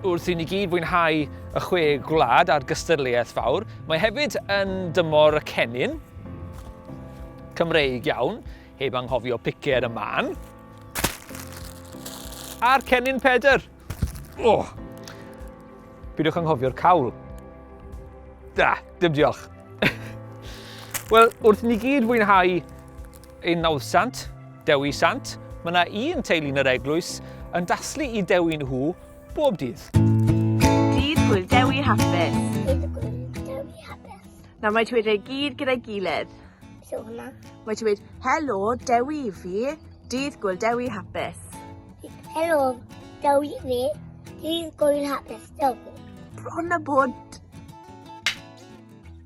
Wrth i ni gyd fwynhau y chwe gwlad a'r gystadleuaeth fawr, mae hefyd yn dymor y cennin, Cymreig iawn, heb anghofio picer y man, a'r cennin pedr. Oh. Bydwch anghofio'r cawl. Da, dim diolch. Wel, wrth ni gyd fwynhau Yn Nawddsant, Dewi Sant, mae yna un teulu'n yr eglwys yn daslu i Dewi nhw bob dydd. Dydd Gwyl Dewi Hapus. Dydd Gwyl Dewi Hapus. Nawr mae ti wedi ei gyd gyda'i gilydd. So hwnna. Mae ti wedi, helo, Dewi i fi, dydd Gwyl Dewi Hapus. Helo, Dewi i fi, dydd Gwyl Hapus, Dewi. Bron a bod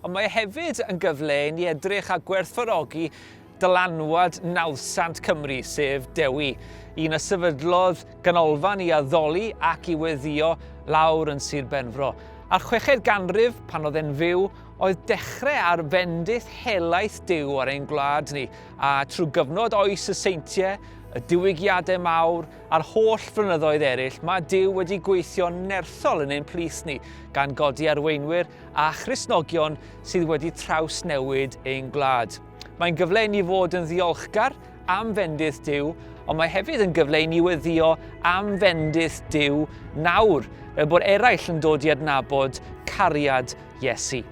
Ond mae e hefyd yn gyfle i ni edrych a gwerthfawrogi dylanwad nawddsant Cymru, sef Dewi, un a sefydlodd ganolfan i addoli ac i weddïo lawr yn Sir Benfro. A'r chweched ganrif, pan oedd e'n fyw, oedd dechrau ar fendith helaeth Duw ar ein gwlad ni, a trwy gyfnod oes y seintiau, y diwygiadau mawr, a'r holl flynyddoedd eraill, mae Duw wedi gweithio'n nerthol yn ein plith ni, gan godi arweinwyr a Christnogion sydd wedi trawsnewid ein gwlad. Mae'n gyfle i ni fod yn ddiolchgar am fendith Dyw, ond mae hefyd yn gyfle i ni weddio am fendith Dyw nawr, fel bod eraill yn dod i adnabod cariad Iesu.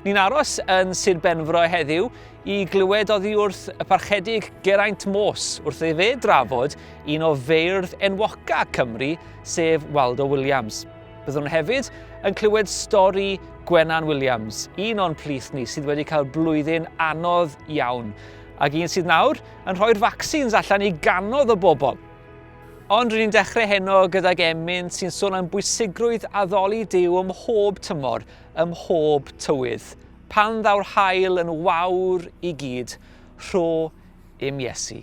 Ni'n aros yn Sir Benfro heddiw i glywed oddi wrth y parchedig Geraint Mos wrth ei fe drafod un o feirdd enwoca Cymru, sef Waldo Williams. Byddwn hefyd yn clywed stori Gwenan Williams, un o'n plith ni sydd wedi cael blwyddyn anodd iawn, ac un sydd nawr yn rhoi'r vaccines allan i ganodd o bobl. Ond rydyn ni'n dechrau heno gydag emyn sy'n sôn am bwysigrwydd addoli Dyw ym mhob tymor, ym mhob tywydd. Pan ddaw'r hael yn wawr i gyd, rho im Iesu.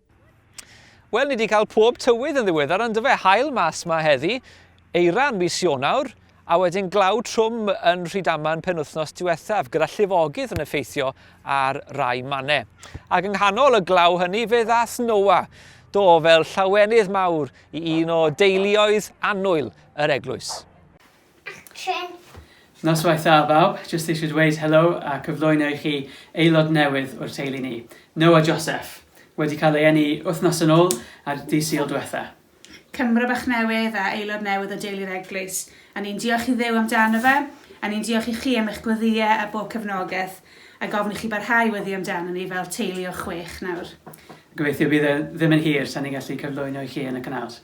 Wel, ni wedi cael pob tywydd yn ddiweddar, ond dyfe hael mas mae heddi, eira yn mis Ionawr, a wedyn glaw trwm yn Rhydaman penwythnos diwethaf, gyda llifogydd yn effeithio ar rai mannau. Ac yng nghanol y glaw hynny, fe ddath Noa, do fel llawenydd mawr i un o deuluoedd annwyl yr eglwys. Action! Noswaith dda bawb, jyst eisiau dweud helo a cyflwyno i chi aelod newydd o'r teulu ni, Noah Joseph! Wedi cael ei eni wythnos yn ôl ar Ddydd Sul dwetha. Cymro bach newydd a aelod newydd o deulu'r eglwys. A ni'n diolch i Dduw amdano fe, a ni'n diolch i chi am eich gweddïe a bob cefnogeth, a gofyn i chi barhau i weddu amdano ni fel teulu o chwech nawr. Gobeithio bydd e ddim yn hir tan ni'n gallu cyflwyno i chi yn y canals.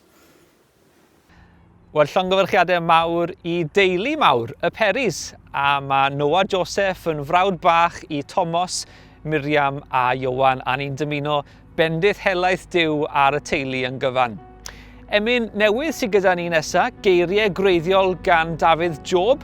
Wel, llongyfarchiadau mawr i deulu mawr y Peris, a mae Noah Joseph yn frawd bach i Tomos, Miriam a Iowan, a ni'n dymuno bendith helaeth Dyw ar y teulu yn gyfan. Emyn newydd sydd gyda ni nesaf, geiriau gwreiddiol gan Dafydd Job,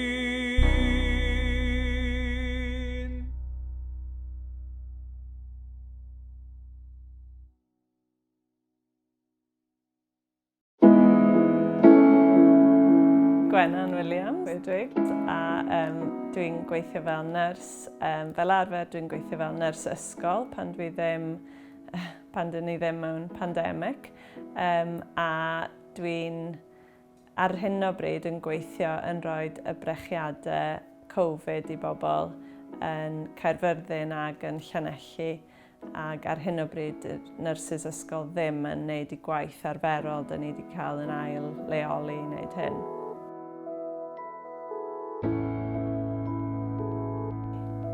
Gwennan Williams, Edwig, a um, dwi'n gweithio fel nyrs. Um, fel arfer, dwi'n gweithio fel nyrs ysgol pan dwi ddim, pan dyn ni ddim mewn pandemig. Um, a dwi'n ar hyn o bryd yn gweithio yn rhoi y brechiadau Covid i bobl yn Caerfyrddin ac yn Llanelli ac ar hyn o bryd y nyrsys ysgol ddim yn gwneud y gwaith arferol dyn ni wedi cael yn ail leoli i wneud hyn.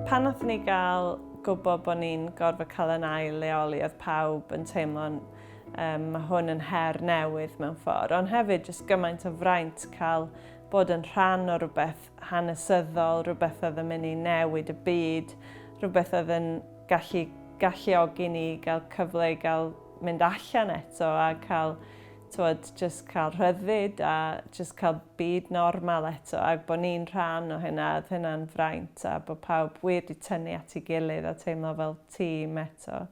Pan nath ni gael gwybod bod ni'n gorfod cael yn ail leoli oedd pawb yn teimlo'n Um, mae hwn yn her newydd mewn ffordd, ond hefyd jyst gymaint o fraint cael bod yn rhan o rhywbeth hanesyddol, rhywbeth oedd yn mynd i newid y byd, rhywbeth oedd yn gallu galluogi ni gael cyfle i gael mynd allan eto a cael tywed, just cael rhyddfyd a just cael byd normal eto ac bod ni'n rhan o hynna, oedd hynna'n fraint a bod pawb wir di tynnu at ei gilydd a teimlo fel tîm eto.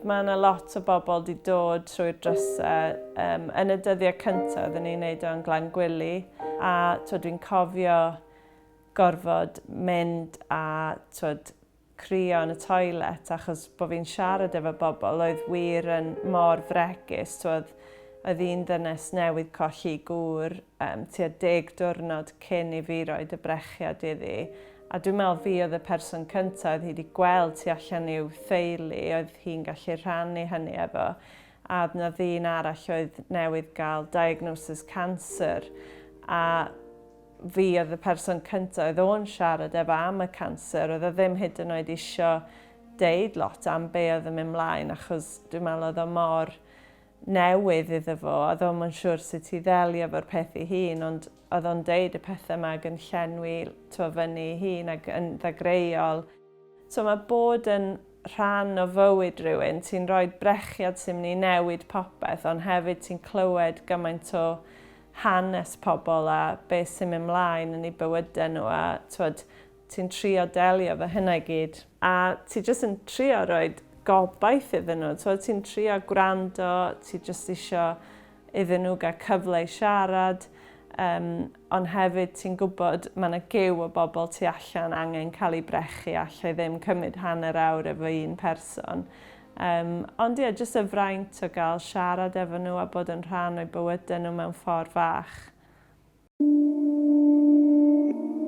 Mae yna lot o bobl wedi dod trwy'r drysau. Um, yn y dyddiau cyntaf, oedden ni'n neud o'n glan gwyllu, a dwi'n cofio gorfod mynd a twyd, crio yn y toilet achos bod fi'n siarad efo bobl oedd wir yn mor fregus, t'wod, oedd un ddynes newydd colli gŵr um, tua deg diwrnod cyn i fi roed y brechiad iddi, a dwi'n meddwl fi oedd y person cyntaf oedd hi wedi gweld tu allan i'w theulu, oedd hi'n gallu rhannu hynny efo, a oedd na ddyn arall oedd newydd gael diagnosis cancer, a Fi oedd y person cyntaf oedd o'n siarad efo am y canser, oedd o ddim hyd yn oed isio deud lot am be oedd yn mynd mlaen achos dwi'n meddwl oedd o mor newydd iddo fo, oedd o'n yn siŵr sut i ddelio fo'r peth ei hun, ond oedd o'n deud y pethau yma ag yn llenwi twa fyny ei hun ag yn ddagreuol. So mae bod yn rhan o fywyd rhywun, ti'n rhoi brechiad sy'n mynd i newid popeth ond hefyd ti'n clywed gymaint o hanes pobl a beth sy'n mynd mlaen yn eu bywydau nhw a twod, ti'n trio delio efo hynna i gyd. A ti jyst yn trio rhoi gobaith iddyn nhw, ti'n trio gwrando, ti jyst isio iddyn nhw gael cyfle i siarad, yym, ond hefyd ti'n gwybod mae yna gyw o bobl tu allan angen cael ei brechu a allai ddim cymryd hanner awr efo un person. Yym, ond ie, jyst y fraint o gael siarad efo nhw a bod yn rhan o'u bywydau nhw mewn ffordd fach.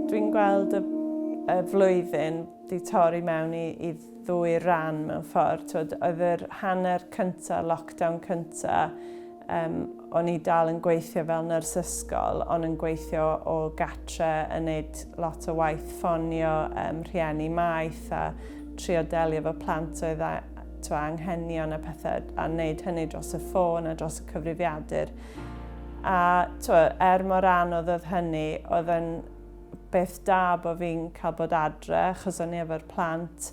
Dwi'n gweld y y flwyddyn di torri mewn i i ddwy ran mewn ffordd. T'wod oedd yr hanner cynta, lockdown cynta, yym o'n i dal yn gweithio fel nyrs ysgol ond yn gweithio o gatre yn neud lot o waith ffonio yym rhieni maeth a trio delio efo plant oedd a- t'wo' anghenion a pethe a neud hynny dros y ffôn a dros y cyfrifiadur. A twa, er mor anodd oedd hynny, oedd yn beth da bod fi'n cael bod adre, achos o'n i efo'r plant.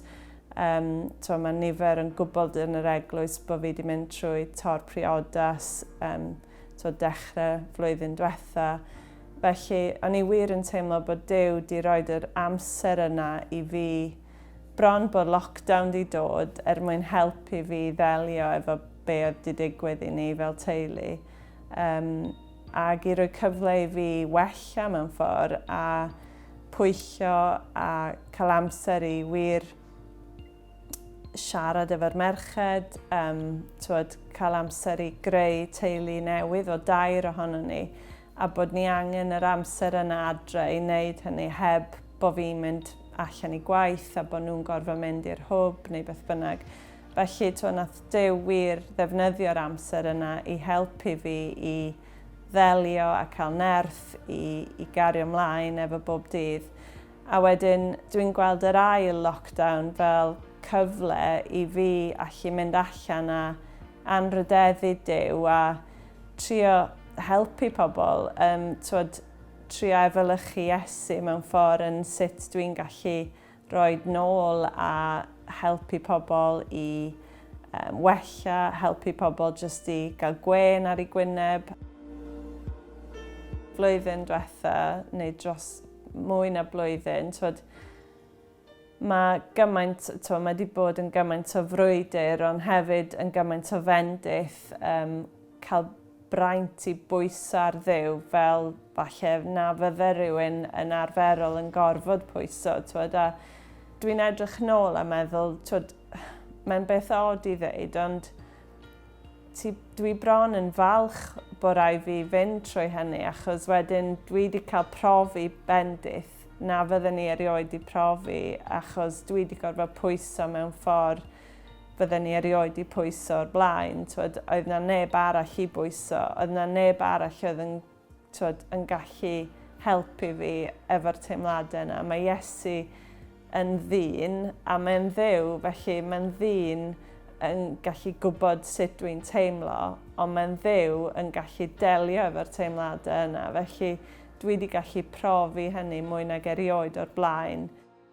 Um, twa, mae nifer yn gwybod yn yr eglwys bod fi wedi mynd trwy tor priodas, um, twa, dechrau flwyddyn diwetha. Felly, o'n i wir yn teimlo bod Dyw wedi rhoi yr amser yna i fi bron bod lockdown wedi dod er mwyn helpu fi ddelio efo be oedd di digwydd i ni fel teulu, um, ac i roi cyfle i fi wella mewn ffordd a pwyllio a cael amser i wir siarad efo'r merched, um, twod, cael amser i greu teulu newydd o dair ohono ni, a bod ni angen yr amser yna adre i wneud hynny heb bod fi'n mynd allan i gwaith a bod nhw'n gorfod mynd i'r hwb neu beth bynnag. Felly, to, nath Duw wir ddefnyddio'r amser yna i helpu fi i ddelio a cael nerth i, i gario mlaen efo bob dydd. A wedyn, dwi'n gweld yr ail lockdown fel cyfle i fi allu mynd allan a anrhydeddu Duw a trio helpu pobl, um, twod, trio efelychu Iesu mewn ffordd yn sut dwi'n gallu Rhoi nôl a helpu pobl i wella, helpu pobl jyst i gael gwên ar ei gwyneb. Flwyddyn diwetha, neu dros mwy na blwyddyn, twod, mae gymaint, twod, mae wedi bod yn gymaint o frwydr, ond hefyd yn gymaint o fendith, cael braint i bwyso ar Dduw fel falle na fydde rhywun yn arferol yn gorfod pwyso, twod, a dwi'n edrych nôl a meddwl, twod, mae'n beth od i ddeud, ond ti, dwi bron yn falch bod rai fi fynd trwy hynny, achos wedyn dwi wedi cael profi bendith na fydden ni erioed i profi, achos dwi wedi gorfod pwyso mewn ffordd fydden ni erioed di pwyso o'r blaen, twod, oedd na neb arall i bwyso, oedd na neb arall oedd yn, twod, yn gallu helpu fi efo'r teimladau yna. Mae Iesu yn ddyn a mae'n ddew, felly mae'n ddyn yn gallu gwybod sut dwi'n teimlo, ond mae'n ddew yn gallu delio efo'r teimladau yna. Felly dwi wedi gallu profi hynny mwy nag erioed o'r blaen.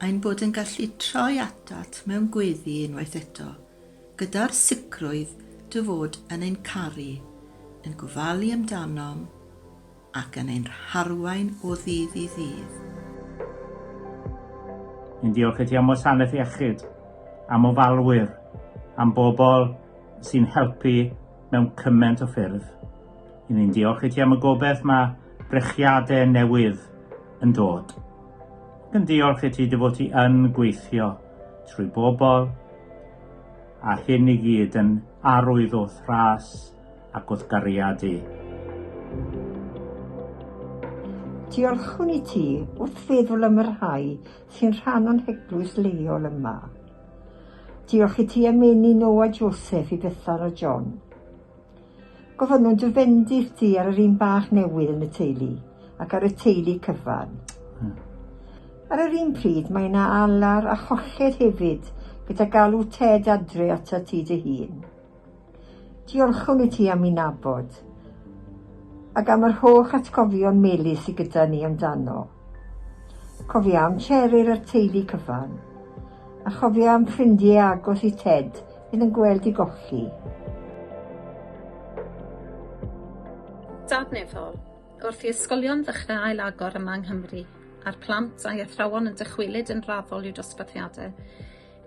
ein bod yn gallu troi atat mewn gweddi unwaith eto, gyda'r sicrwydd dy fod yn ein caru, yn gofalu amdanom, ac yn ein harwain o ddydd i ddydd. Yn diolch i ti am wasanaeth iechyd, am ofalwyr, am bobl sy'n helpu mewn cymaint o ffyrdd. Yn ni'n diolch i ti am y gobeith mae brechiadau newydd yn dod. Yn diolch i ti dy fod ti yn gweithio trwy bobl a hyn i gyd yn arwydd o thras ac o'th gariad di. Diolchwn i ti wrth feddwl am y rhai sy'n rhan o'n heglwys leol yma. Diolch i ti am eni Noa Joseph i Bethan a John. Gofynnwn dy fendith di ar yr un bach newydd yn y teulu ac ar y teulu cyfan. Hmm. Ar yr un pryd mae yna alar a cholled hefyd gyda galw Ted adre atat ti dy hun. Diolchwn i ti am i nabod ac am yr holl atgofion melys sy gyda ni amdano. Cofia am Cheryl a'r teulu cyfan a chofia am ffrindiau agos i Ted Fydd yn gweld i golli. Dadnefol, Wrth i ysgolion ddechrau ailagor yma yng Nghymru, a'r plant a'i athrawon yn dychwelyd yn raddol i'w dosbarthiadau,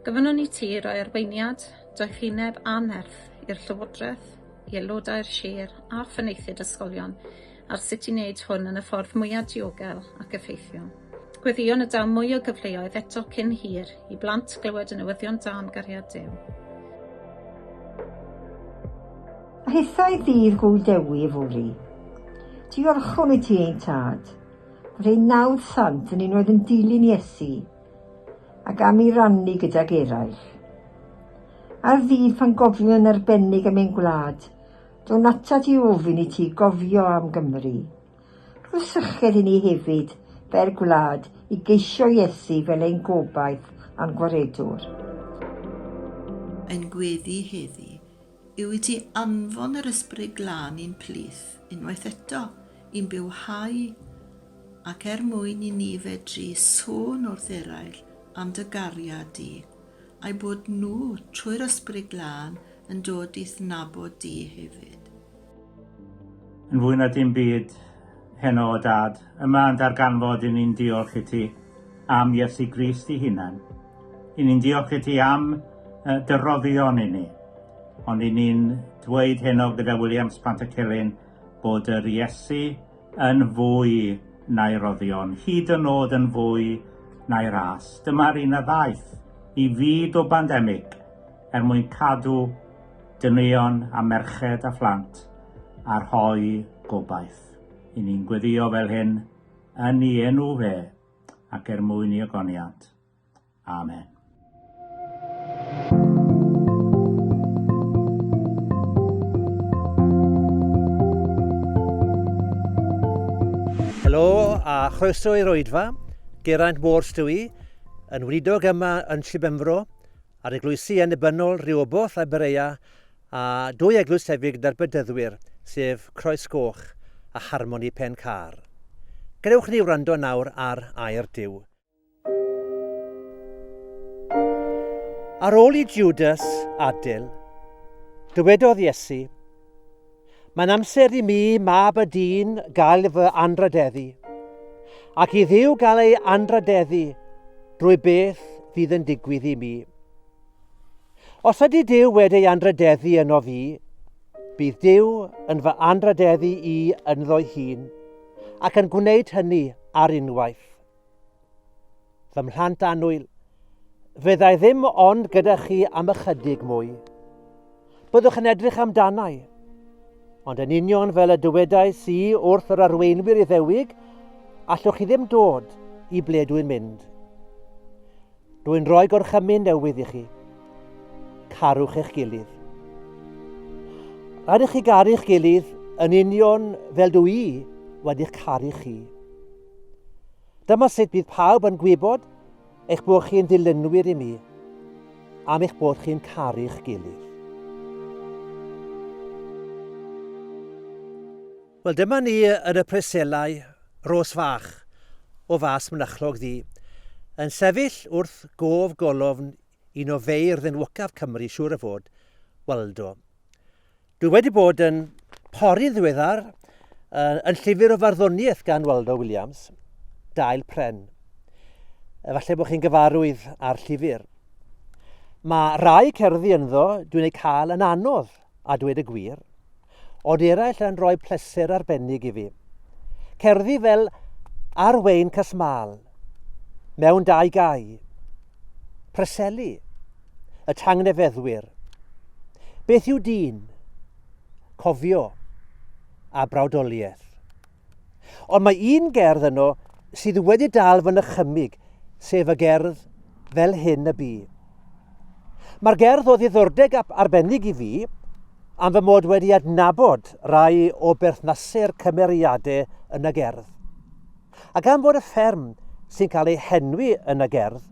gofynnwn i ti roi arweiniad, doethineb a nerth i'r Llywodraeth, i aelodau'r sir a phenaethiaid ysgolion ar sut i wneud hwn yn y ffordd mwyaf diogel ac effeithiol. Gweddïo na daw mwy o gyfleoedd eto cyn hir i blant glywed y newyddion da am gariad Duw. A hithau ddydd gŵl Dewi yfory. Diolchwn i ti, ein tad, bod ein nawdd sant yn un oedd yn dilyn Iesu, ac am ei rannu gydag eraill. Ar ddydd pan gofio'n arbennig am ein gwlad, Dwn atat i ofyn i ti gofio am Gymru. Rho'r sychedd i ni hefyd, fel gwlad, i geisio Iesu fel ein gobaith a'n Gwaredwr. Ein gweddi heddi yw i ti anfon yr Ysbryd Glân i'n plith, unwaith eto, i'n bywhau, ac er mwyn i ni fedru sôn wrth eraill am dy gariad di a'u bod nhw, trwy'r Ysbryd Glân, yn dod i'th nabod di hefyd. Yn fwy na dim byd, heno o Dad, yma yn darganfod i ni'n diolch i ti am Iesu Grist i hunan. I ni'n diolch i ti am dy roddion i ni. Ond i ni'n dweud heno gyda William Spantacelyn bod yr Iesu yn fwy na'i roddion, hyd yn nod yn fwy na'i ras. Dyma'r un a ddaeth i fyd o bandemig er mwyn cadw dynion a merched a phlant a rhoi gobaith. I ni'n gweddio fel hyn yn i enw fe ac er mwyn i ogoniant. Amen. Helo a chroeso i'r oedfa. Geraint Ward dw i, yn wlidog yma yn Llibemfro, ar eglwysi yn ebynol Rioboll a Berea, a dwy eglwys hefyd gyda'r bedyddwyr, sef Croes Goch a Harmoni Pen Car. Gadewch ni wrando nawr ar Air Dyw. Ar ôl i Judas adil, dywedodd Iesu, Mae'n amser i mi, mab y dyn, gael fy anradeddu, ac i ddiw gael ei anradeddu drwy beth fydd yn digwydd i mi. Os ydy Dyw wedi ei anradeddu yno fi, bydd Dyw yn fy anradeddu i ynddo'i hun, ac yn gwneud hynny ar unwaith. Fy mhlant annwyl, fyddai ddim ond gyda chi am ychydig mwy. Byddwch yn edrych amdanau. Ond yn union fel y dywedau si wrth yr arweinwyr iddewig, allwch chi ddim dod i ble dwi'n mynd. Dwi'n rhoi gorchymyn newydd i chi. Carwch eich gilydd. Rhaid i chi garu'ch gilydd yn union fel dw i wedi'ch caru chi. Dyma sut bydd pawb yn gwybod eich bod chi'n ddilynwyr i mi, am eich bod chi'n caru'ch gilydd. Wel, dyma ni yn y preselau, Ros fach, o fas mynychlog ddi, yn sefyll wrth gof golofn un o feirdd enwocaf Cymru, siŵr o fod, Waldo. Dwi wedi bod yn pori ddiweddar yn llyfr o farddoniaeth gan Waldo Williams, Dail Pren. Efallai bod chi'n gyfarwydd â'r llyfr. Mae rhai cerddi ynddo dwi'n eu cael yn anodd a dweud y gwir, ond eraill yn rhoi pleser arbennig i fi. Cerddi fel Arwein Casmal, mewn dau gau, preseli, y tangnefeddwyr. Beth yw dyn? Cofio a brawdoliaeth. Ond mae un gerdd yno sydd wedi dal fy nychymig, sef y gerdd fel hyn y bu. Mae'r gerdd o ddiddordeg arbennig i fi am fy mod wedi adnabod rai o berthnasau'r cymeriadau yn y gerdd. A gan fod y fferm sy'n cael ei henwi yn y gerdd,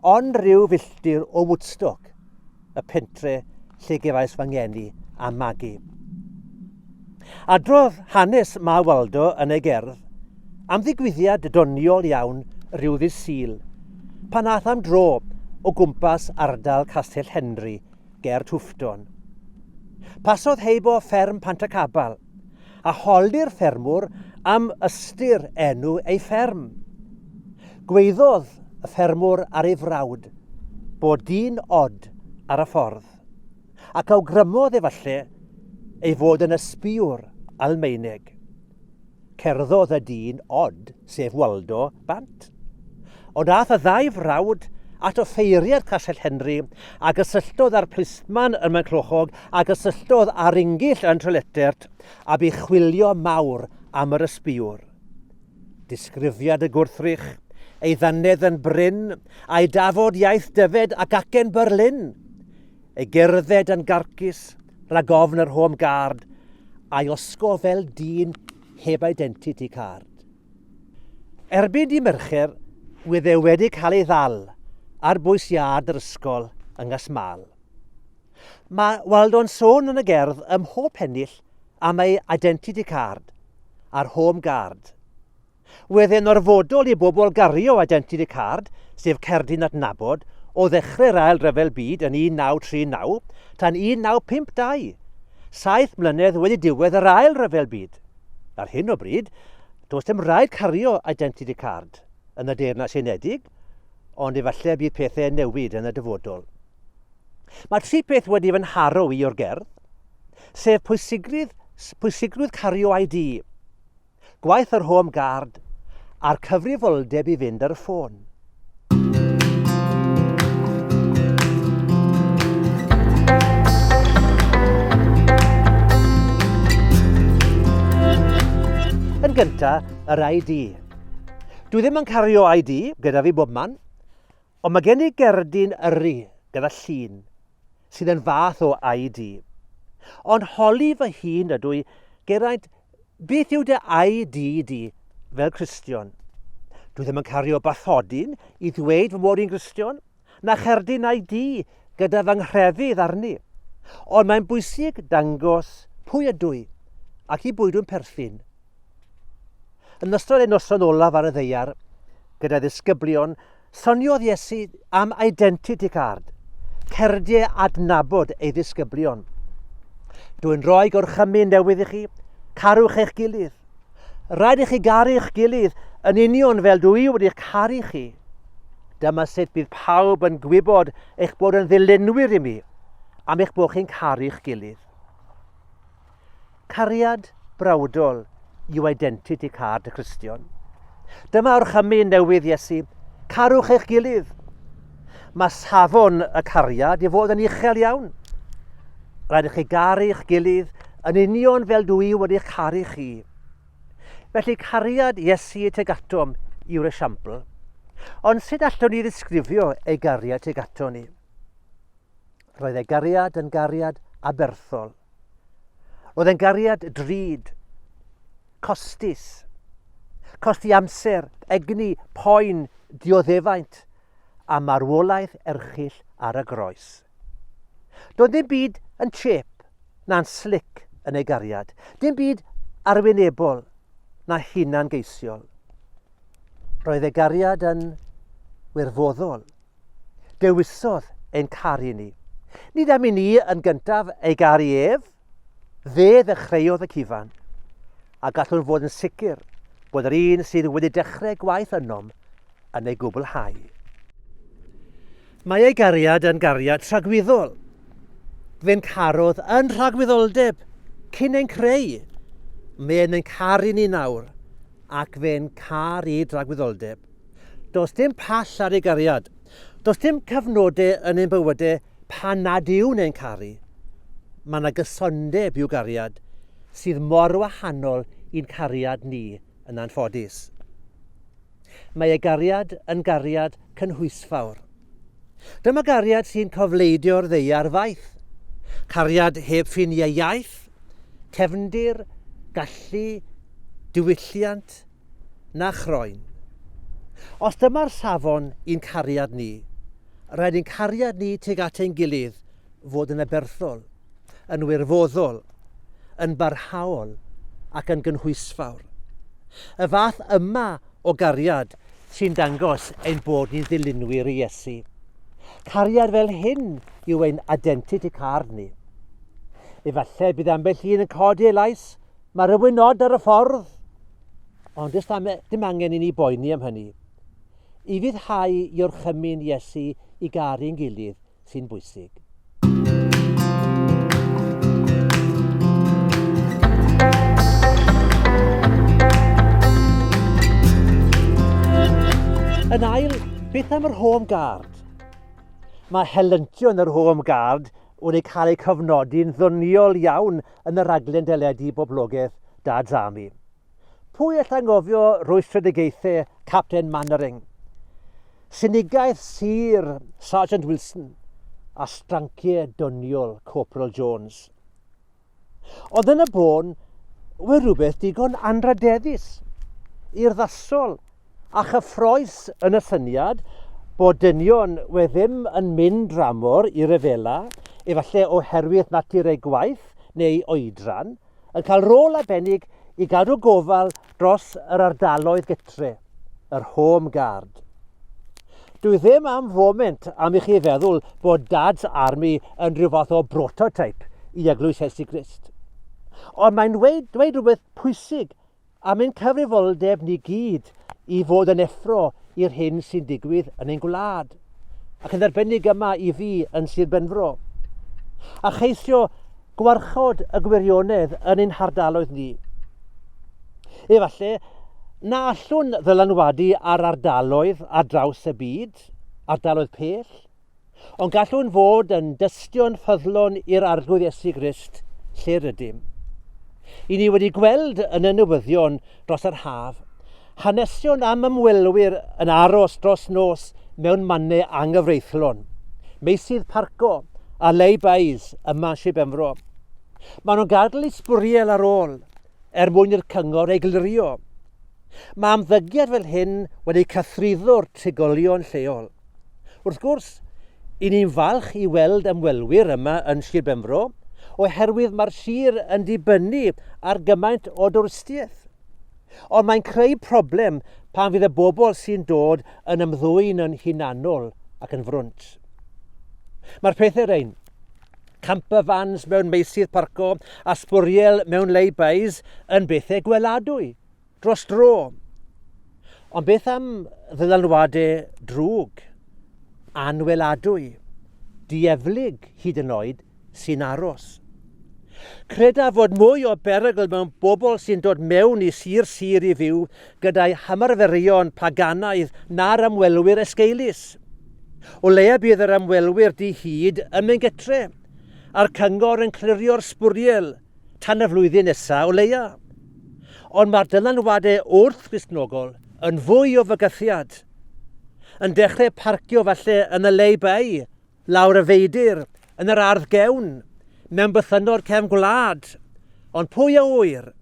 ond rhyw filltir o Woodstock, y pentre lle gefais fy ngeni a magu. Adrodd hanes Ma Waldo yn ei gerdd am ddigwyddiad doniol iawn rhyw ddydd Sul, pan ath am dro o gwmpas ardal Castell Henry ger Twfton. Pasodd heib o fferm Pantacabal, a holi'r ffermwr am ystyr enw ei fferm. Gweiddodd y ffermwr ar ei frawd bod dyn od ar y ffordd, ac awgrymodd efallai ei fod yn ysbïwr Almaeneg. Cerddodd y dyn od, sef Waldo, bant. Ond aeth y ddau frawd at offeiriad Castell Henry a gysylltodd â'r plisman yn Maenclochog a gysylltodd â'r Ingill yn Trelletert a bu chwilio mawr am yr ysbïwr. Disgrifiad y gwrthrych, ei ddannedd yn brin, a'i dafod iaith Dyfed ac acen Berlin. Ei gerdded yn garcus, rhag ofn yr Home Guard, a'i osgo fel dyn heb identity card. Erbyn dydd Mercher, bydd e wedi cael ei ddal ar bws iard yr ysgol yng Nghasmael. Mae Waldo'n sôn yn y gerdd ym mhob pennill am ei identity card a'r home guard. Wedd e'n orfodol i bobl gario identity card, sef cerdyn adnabod, o ddechrau'r Ail Ryfel Byd yn 1939 tan 1952, saith mlynedd wedi diwedd yr Ail Ryfel Byd. Ar hyn o bryd, does dim rhaid cario Identity Card yn y Deyrnas Unedig, ond efallai bydd pethau yn newid yn y dyfodol. Mae tri peth wedi fy nharo i o'r gerdd, sef pwysigrwydd, pwysigrwydd cario ID, gwaith yr Home Guard a'r cyfrifoldeb i fynd ar y ffôn. Yn gyntaf, yr ID. Dwi ddim yn cario ID gyda fi bob man, ond mae gen i gerdyn yrru gyda llun sydd yn fath o ID. Ond holi fy hun ydw i geraint Beth yw dy ID di fel Cristion? Dwi ddim yn cario bathodyn i ddweud fy mod i'n Gristion, na cherdyn ID gyda fy nghrefydd arni. Ond mae'n bwysig dangos pwy ydw i ac i bwy dwi'n perthyn. Yn ystod ein noson olaf ar y ddeiar, gyda ddisgyblion Soniodd Iesu am identity card, cerdie adnabod ei ddisgyblion. Dwi'n rhoi gorchymyn newydd i chi, carwch eich gilydd. Rhaid i chi garu eich gilydd yn union fel dw i wedi caru chi. Dyma sut bydd pawb yn gwybod eich bod yn ddilynwyr i mi, am eich bod chi'n caru'ch gilydd. Cariad brawdol yw identity card y Cristion. Dyma orchymyn newydd Iesu, carwch eich gilydd. Mae safon y cariad i fod yn uchel iawn. Rhaid i chi garu eich gilydd yn union fel dw i wedi caru chi. Felly cariad Iesu teg atom yw'r esiampl. Ond sut allwn ni ddisgrifio ei gariad teg atom ni? Roedd ei gariad yn gariad aberthol. Roedd e'n gariad drud, costus, costi amser, egni, poen, dioddefaint a marwolaeth erchill ar y groes. Doedd ddim byd yn chip na'n slic yn ei gariad, dim byd arwynebol na hunan geisiol. Roedd ei gariad yn wirfoddol, Dewisodd ein caru ni. Nid am i ni yn gyntaf ei garu ef, fe ddechreuodd y cyfan, a gallwn fod yn sicr bod yr un sydd wedi dechrau gwaith ynom yn ei gwblhau. Mae ei gariad yn gariad tragwyddol. Fe'n carodd yn rhagwyddoldeb cyn ein creu. Mae'n ein caru ni nawr ac fe'n car i dragwyddoldeb. Does dim pall ar ei gariad. Does dim cyfnodau yn ein bywydau pan nad yw'n ein caru. Mae yna gysondeb i'w gariad sydd mor wahanol i'n cariad ni yn anffodus. Mae ei gariad yn gariad cynhwysfawr. Dyma gariad sy'n cofleidio'r ddeiar faith. Cariad heb ffiniau iaith, cefndir, gallu, diwylliant, na chroen. Os dyma'r safon i'n cariad ni, rhaid i'n cariad ni tuag at ein gilydd fod yn aberthol, yn wirfoddol, yn barhaol ac yn gynhwysfawr. Y fath yma o gariad sy'n dangos ein bod ni'n ddilynwyr i Iesu. Cariad fel hyn yw ein identity card ni. Efallai bydd ambell un yn codi ei lais Mae rhywun nod ar y ffordd, ond does am, dim angen i ni boeni am hynny. I fyddhau i orchymyn Iesu i garu yn gilydd sy'n bwysig. Yn ail, beth am yr home guard? Mae helentio yn yr home guard wedi cael eu cofnodi'n ddoniol iawn yn y rhaglen deledu boblogaidd Da Drami. Pwy all angofio rwystredigaethau Capten Mannering, sinigaeth sur Sergeant Wilson a stranciau doniol Corporal Jones. Ond yn y bôn, we rhywbeth digon anradeddus, urddasol A chyffrous yn y syniad bod dynion we ddim yn mynd dramor i ryfela, efallai oherwydd natur eu gwaith neu oedran, yn cael rôl arbennig i gadw gofal dros yr ardaloedd gytre, yr home guard. Dwi ddim am foment am i chi feddwl bod Dad's Army yn rhyw fath o brototype i Eglwys Iesu Grist. Ond mae'n dweud, dweud rhywbeth pwysig am ein cyfrifoldeb ni gyd i fod yn effro i'r hyn sy'n digwydd yn ein gwlad, ac yn arbennig yma i fi yn Sir Benfro, a cheisio gwarchod y gwirionedd yn ein hardaloedd ni. Efallai na allwn ddylanwadu ar ardaloedd ar draws y byd, ardaloedd pell, Ond gallwn fod yn dystion ffyddlon i'r Arglwydd Iesu Grist lle rydym. I ni wedi gweld yn y newyddion dros yr haf, hanesion am ymwelwyr yn aros dros nos mewn mannau anghyfreithlon, meysydd parco a lay-bys yma Sir Benfro. Maen nhw'n gadl i sbwriel ar ôl er mwyn i'r cyngor eglurio. Mae ymddygiad fel hyn wedi cythruddo'r trigolion lleol. Wrth gwrs, i ni'n falch i weld ymwelwyr yma yn Sir Benfro, oherwydd mae'r sir yn dibynnu ar gymaint o dwristiaeth. Ond mae'n creu problem pan fydd y bobl sy'n dod yn ymddwyn yn hunanol ac yn frwnt. Mae'r pethau ein. camper vans mewn meysydd parco a sbwriel mewn lay-bys yn bethau gweladwy, dros dro. Ond beth am ddylanwadau drwg, anweladwy, dieflig hyd yn oed, sy'n aros? Credaf fod mwy o berygl mewn bobl sy'n dod mewn i sir sir i fyw gyda'i hymarferion paganaidd na'r ymwelwyr esgeulus. O leia bydd yr ymwelwyr di-hid ym Mengetre, a'r cyngor yn clirio'r sbwriel tan y flwyddyn nesa o leia. Ond mae'r dylanwadau wrth Gristnogol yn fwy o fygythiad. Yn dechrau parcio falle yn y lay-by, lawr y feidr, yn yr ardd gewn, mewn bythynnod cefn gwlad. Ond pwy a ŵyr?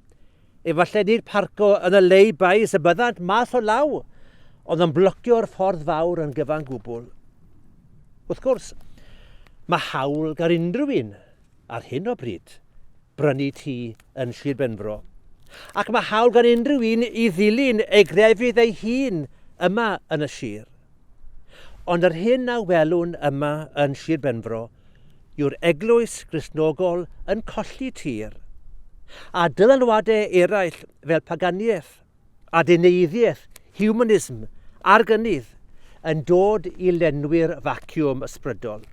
Efallai nid parco yn y lay bys y byddant math o law, ond yn blocio'r ffordd fawr yn gyfan gwbl. Wrth gwrs, mae hawl gan unrhyw un ar hyn o bryd brynu tŷ yn Sir Benfro, ac mae hawl gan unrhyw un i ddilyn ei grefydd ei hun yma yn y sir. Ond yr hyn a welwn yma yn Sir Benfro yw'r eglwys Gristnogol yn colli tir, a dylanwadau eraill fel paganiaeth, adeneiddiaeth, humanism a'r gynnydd yn dod i lenwi'r faciwm ysbrydol.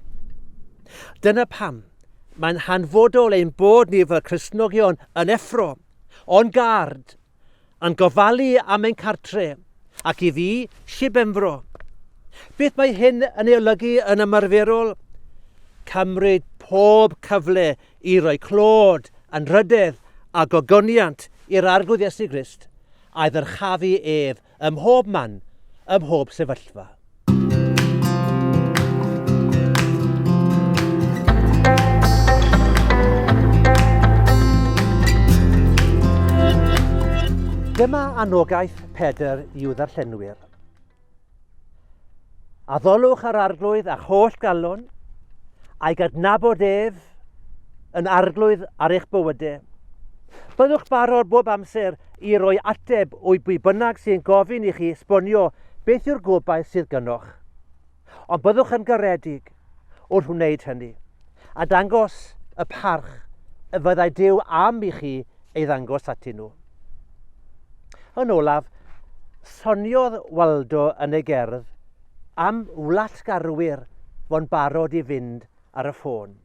Dyna pam mae'n hanfodol ein bod ni fel Cristnogion yn effro, on guard, yn gofalu am ein cartre, ac i fi, Sir Benfro. Beth mae hyn yn ei olygu yn ymarferol? Cymryd pob cyfle i roi clod, anrhydedd a gogoniant i'r Arglwydd Iesu Grist, a'i ddyrchafu ef Ym mhob man, ym mhob sefyllfa. Dyma anogaeth Pedr i'w ddarllenwyr. Addolwch ar arglwydd a'ch holl galon, a'i gadnabod ef yn arglwydd ar eich bywydau. Byddwch barod bob amser i roi ateb o'i bwy bynnag sy'n gofyn i chi esbonio beth yw'r gobaith sydd gynoch. Ond byddwch yn garedig. wrth wneud hynny, a dangos y parch y fyddai Duw am i chi ei ddangos ati nhw. Yn olaf, soniodd Waldo yn ei gerdd am wlatgarwyr fo'n barod i fynd ar y ffôn.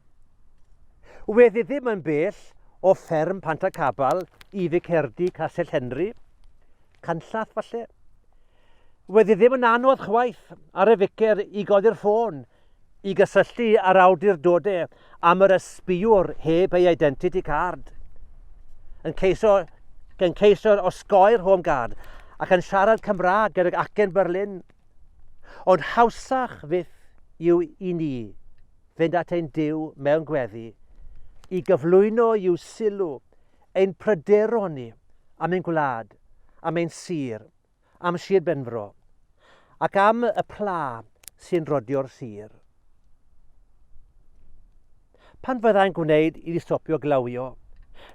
Wedd ddim yn bell o fferm Pantacabal i Ficerdy Castell Henry, canllath falle, Wedd hi ddim yn anodd chwaith ar y ficer i godi'r ffôn i gysylltu â'r awdurdode am yr ysbïwr heb ei identity card. Yn ceiso, yn ceiso osgoi'r home guard ac yn siarad Cymraeg gydag acen Berlin. Ond hawsach fyth yw i ni fynd at ein Dyw mewn gweddi i gyflwyno i'w sylw ein pryderon ni am ein gwlad, am ein sir, am Sir Benfro ac am y pla sy'n rodio'r sir. Pan fyddai'n gwneud i stopio glawio,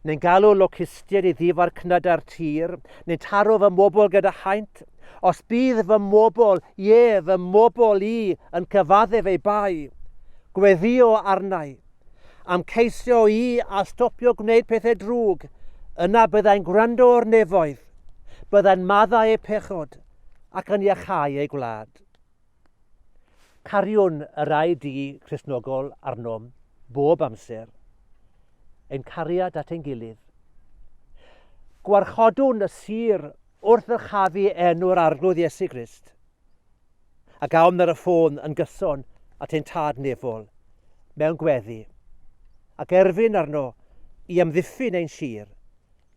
neu'n galw locustiaid i ddifar cnydau'r tir, neu'n taro fy mobl gyda haint, os bydd fy mobl, ie, fy mobl i, yn cyfaddef ei bai, gweddio arnau, am ceisio i a stopio gwneud pethau drwg, yna byddai'n gwrando o'r nefoedd, byddai'n maddau eu pechod, ac yn iachau eu gwlad. Cariwn yr ID Christnogol arnom bob amser, ein cariad at ein gilydd. Gwarchodwn y sir wrth ddyrchafu enw'r Arglwydd Iesu Grist. a gawn ar y ffôn yn gyson at ein tad nefol mewn gweddi, ac erfyn arno i amddiffyn ein sir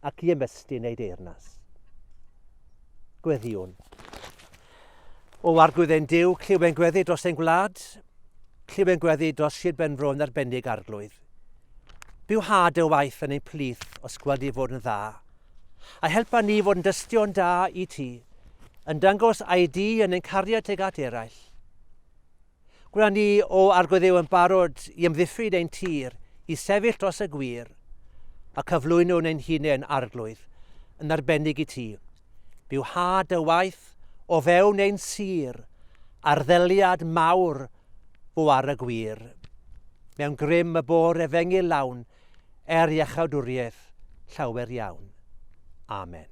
ac i ymestyn ei deyrnas. Gweddiwn. O arglwydd ein Dyw, clyw ein gweddi dros ein gwlad, clyw ein gweddi dros Sir Benfro yn arbennig arglwydd. Byw had y waith yn ein plith os gweld i fod yn dda. A helpa ni fod yn dystion da i ti, yn dangos ID yn ein cariad teg at eraill. Gwna ni o argoeddew yn barod i ymddiffyn ein tir, i sefyll dros y gwir, a cyflwyno yn ein hunain arglwydd yn arbennig i ti. Byw had y waith o fewn ein sir, arddeliad mawr fo ar y gwir. Mewn grym y bore fengi lawn, er iachawdwriaeth llawer iawn. Amen.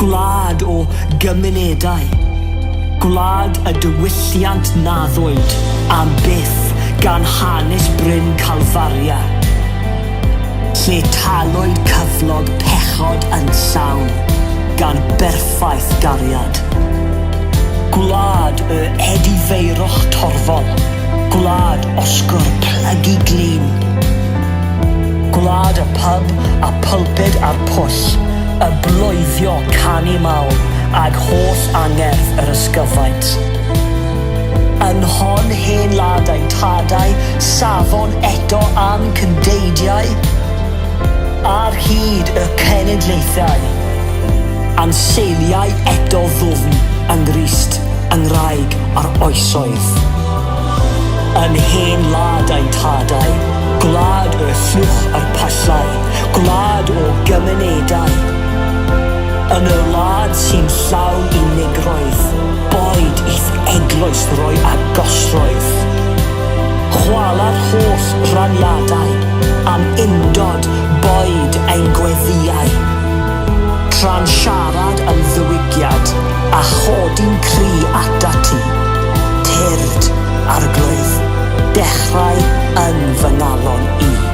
Gwlad o gymunedau. Gwlad y diwylliant naddwyd am byth gan hanes Bryn Calfaria, lle talwyd cyflog pechod yn llawn gan berffaith gariad. Gwlad y edifeirwch torfol. Gwlad osgwr plygu glin. Gwlad y pyb a pulpud a'r pwll. Iesus, y bloeddio canu mawr ag holl angerdd yr ysgyfaint. Yn hon hen ladau, tadau, safon eto am cyndeidiau, ar hyd y cenedlaethau, a'n seiliau eto ddwfn yng Nghrist, yng Ngwraig a'r oesoedd. Yn hen ladau, tadau, gwlad y llwch a'r pyllau, Gwlad o gymunedau Yn y wlad sy'n llaw unigroedd Boed i'th eglwys roi agosrwydd Chwala'r holl raniadau Am undod boed ein gweddïau Tra'n siarad yn ddiwygiad A chodi'n cry at ati Tyrd, Arglwydd, dechrau yn fy ngalon i.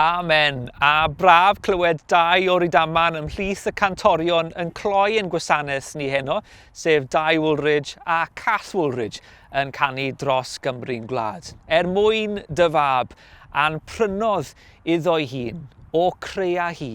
Amen! A braf clywed dau o Rydaman ymhlith y cantorion yn cloi ein gwasanaeth ni heno, sef Dai Woolridge a Cath Woolridge yn canu dros Gymru'n gwlad. Er mwyn dy fab, a'n prynodd iddo'i hun, o crea hi,